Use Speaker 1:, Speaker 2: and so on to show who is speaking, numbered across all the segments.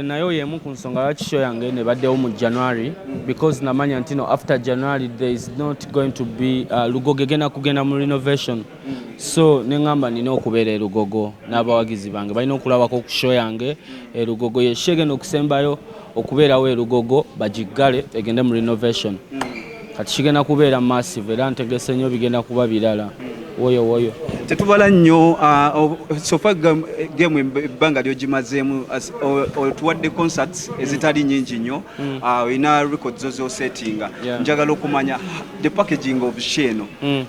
Speaker 1: nayo yemu ku nsonga lwaki show yange nebaddewo mu january because namanya ntino after january there is not going to be uh, lugogo egenda kugenda mu renovation so neŋamba nina okubeera erugogo n'abawagizi bange balina okulabako ku show yange erugogo yesho egenda okusembayo okubeerawo erugogo bagiggale egende mu renovation mm. kati kigenda kubeera massive era ntegese nnyo bigenda kuba birala woyo woyo tetubala nnyo
Speaker 2: ah, sofa gemu ebbanga lyogimazeemu otuwadde concerts mm. ezitali nyingi nnyo mm. ah, olina record zo zosettinga njagala okumanya the packaging of she eno mm.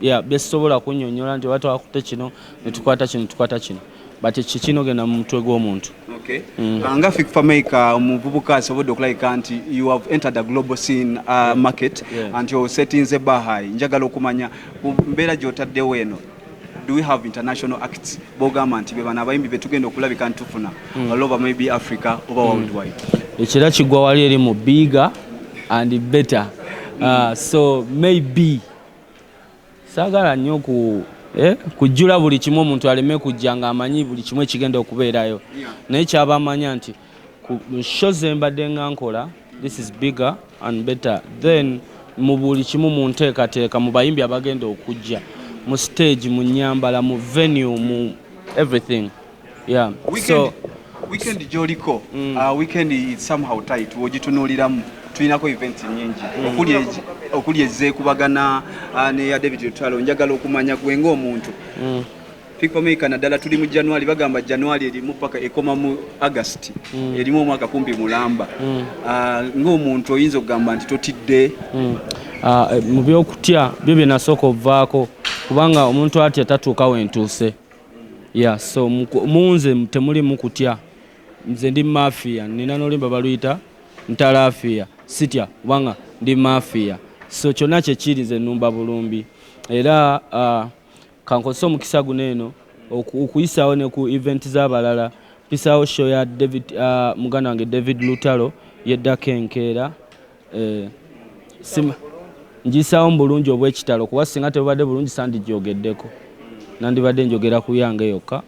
Speaker 1: yeah, byesisobola kunyonyola nti oba twakutte kino netukwata kino tukwata kino but kikinogenda mu mutwe gw'omuntu okay. mm. Ah, nga
Speaker 2: fik famaica omuvubuka asobodde okulabika nti you have entered a global scene uh, yeah. market yeah. anti osetinze bahai njagala okumanya ku mbeera gyotaddewo eno do we have international acts bogamba nti bebano abayimbi betugenda okulabika ntufuna mm. all over maybe africa oba mm. worldwide ekira kigwa
Speaker 1: wali eri mu bigger and better mm. uh, so maybe Saagala nnyo ku eh, kujjula buli kimu omuntu aleme kujja ng'amanyi buli kimu ekigenda okubeerayo naye kyaba amanya nti ku sho ze mbadde nga nkola this is bigger and better then mu buli kimu mu nteekateeka mu bayimbi abagenda okujja mu stage mu nnyambala mu venue mu everything Yeah. Weekend, so,
Speaker 2: weekend gyoliko mm. uh, weekend is somehow tight wogitunuuliramu tulinako event nyingi mm. okuli ezekubagana uh, neya david lutalo njagala okumanya gwe ngaomuntu mm. pipomeka naddala tuli mu january bagamba january erimu paka ekoma mu agust mm. erimu omwaka kumpi mulamba mm. uh, ngaomuntu oyinza okugamba nti totidde mm. uh,
Speaker 1: mu byokutya byo byenasooka ovaako kubanga omuntu atya tatuuka wentuuse Yeah, so munze temulimu kutya nze ndi mafia nina nolimba baluyita ntalafia sitya kubanga ndi mafia so kyonna kyekiri nze numba bulumbi era uh, kankozesa omukisa guno eno okuyisaawo ne ku event z'abalala mpisaawo show ya david uh, muganda wange david lutalo yeddako enkeera Eh, sima ngisaawo mu bulungi obw'ekitalo kuba singa tebubadde bulungi sandijoogeddeko nandibadde njogera ku yange yokka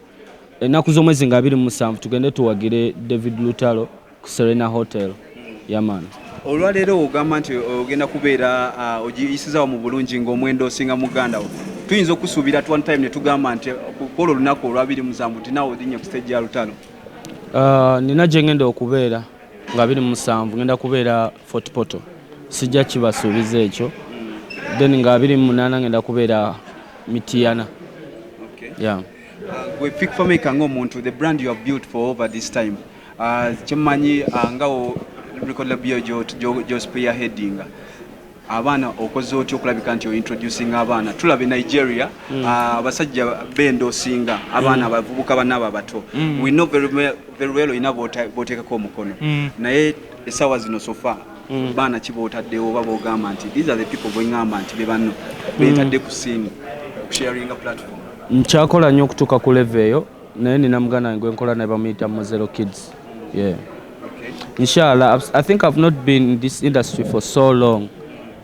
Speaker 1: ennaku z'omwezi nga abiri mu musanvu tugende tuwagire david lutalo ku serena hotel yaman olwaleero
Speaker 2: ogamba nti ogenda kubeera uh, ogiyisizaawo mu bulungi ng'omwenda osinga muganda wo tuyinza okusuubira at one time ne tugamba nti kwolwo olunaku olwabiri musanvu nti naawe odinnya ku stage ya lutalo uh,
Speaker 1: nina gye ngenda okubeera nga biri musanvu ngenda kubeera fort poto sijja kibasuubiza ekyo then nga biri munaana ngenda kubeera mitiyana
Speaker 2: uh, gwe fik fameka ngaomuntu the brand you have built for over this time uh, kyemanyi uh, ngawo record labio gyospear headinga abaana okoze otya okulabika nti ointroducing abaana tulaba e nigeria mm. ah, abasajja mm. uh, benda osinga abaana mm. abavubuka mm. banaabo abato mm. we know very, very well olina boteekako omukono mm. naye esawa zino sofa mm. baana kibaotaddewo oba bogamba nti these are the people bwengamba nti bebanno mm. betadde ku siimu kusharinga platform nkyakola nnyo
Speaker 1: okutuuka ku leve eyo Naye nina muganda wange gwenkola naye bamuyita Muzero Kids. Yeah. Inshallah I think I've not been in this industry for so long.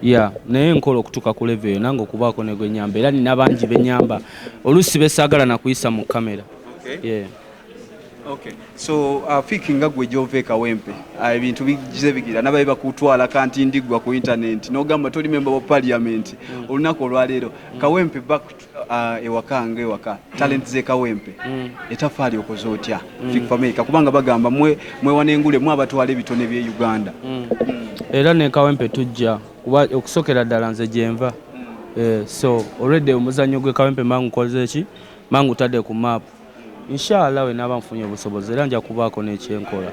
Speaker 1: Yeah, naye nkola okutuka ku level nange okubaako ne gwenyamba era nina bangi benyamba oluusi besaagala na kuyisa mu kamera. Okay. Yeah. Okay.
Speaker 2: So uh, fiki nga gwe gyova ekawempe uh, ebintu bigize bigira nabaye bakutwala kanti ndigwa ku internet n'ogamba toli memba wa parliament mm. olunaku olwaleero mm. kawempe back Ah, ewaka nga ewaka talenti zekawempe mm. etafaali okoze otya mm. fikfameka kubanga bagamba mwewana engule mwe abatwala ebitone bye uganda mm. era
Speaker 1: nekawempe tujja kuba okusokera ddala nze gyenva eh, so olwedde omuzannyo gwekawempe mangu koze ki mangu tadde ku maapu Insha Allah wenaaba nfunye obusobozi era nja kubaako ne kye nkola.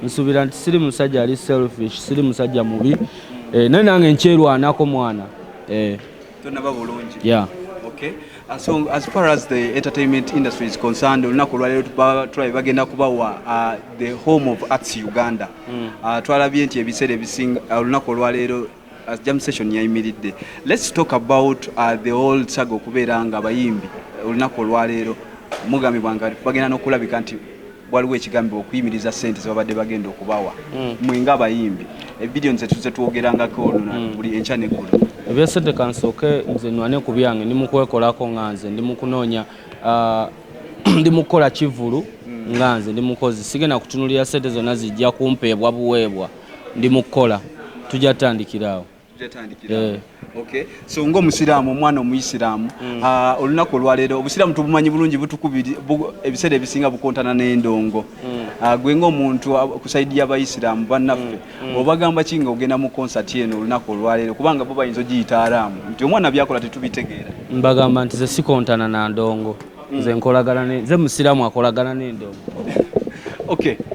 Speaker 1: Nsuubira nti siri musajja ali selfish, siri musajja mubi eh, naye nange nkyerwanako mwana eh.
Speaker 2: Tonnaba bulungi. Yeah. Okay. Uh, so as far as the entertainment industry is concerned olunaku olwaleero tulabye bagenda kubawa uh, the home of arts uganda mm. uh, twalabye nti ebiseera ebisinga olunaku olwaleero as jam session yayimiridde let's talk about uh, the old saga okubeera nga abayimbi uh, olunaku olwaleero mugambibwa nga bagenda nokulabika nti waliwo ekigambibwa okuyimiriza sente zebabadde bagenda okubawa mm. mwe nga abayimbi ebidiyo nze tuze twogerangako oluna mm. buli enkya neggulu ebyesente kansooke
Speaker 1: nze nwane ku byange ndi mukwekolako nga nze ndi mukunoonya uh, ndi mukukola kivulu mm. nga nze ndi mukozi sigenda kutunulira sente zonna zijja kumpeebwa buweebwa mm. Ndi mu kukola, tujja tutandikira awo. Eh.
Speaker 2: Okay. So nga omusiraamu omwana omuyisiraamu mm. Ah, olunaku olwaleero obusiraamu tubumanyi bulungi butukubiri ebiseera ebisinga bukontana n'endongo mm. ah, gwe ngaomuntu ah, ku saidi y'abayisiraamu bannaffe mm. obagamba ki nga ogenda mu konsati eno olunaku olwaleero kubanga bo bayinza ogiyita araamu nti omwana byakola tetubitegeera mbagamba nti ze
Speaker 1: sikontana na ndongo nze nkolagana nze musiraamu
Speaker 2: akolagana
Speaker 1: n'endongo okay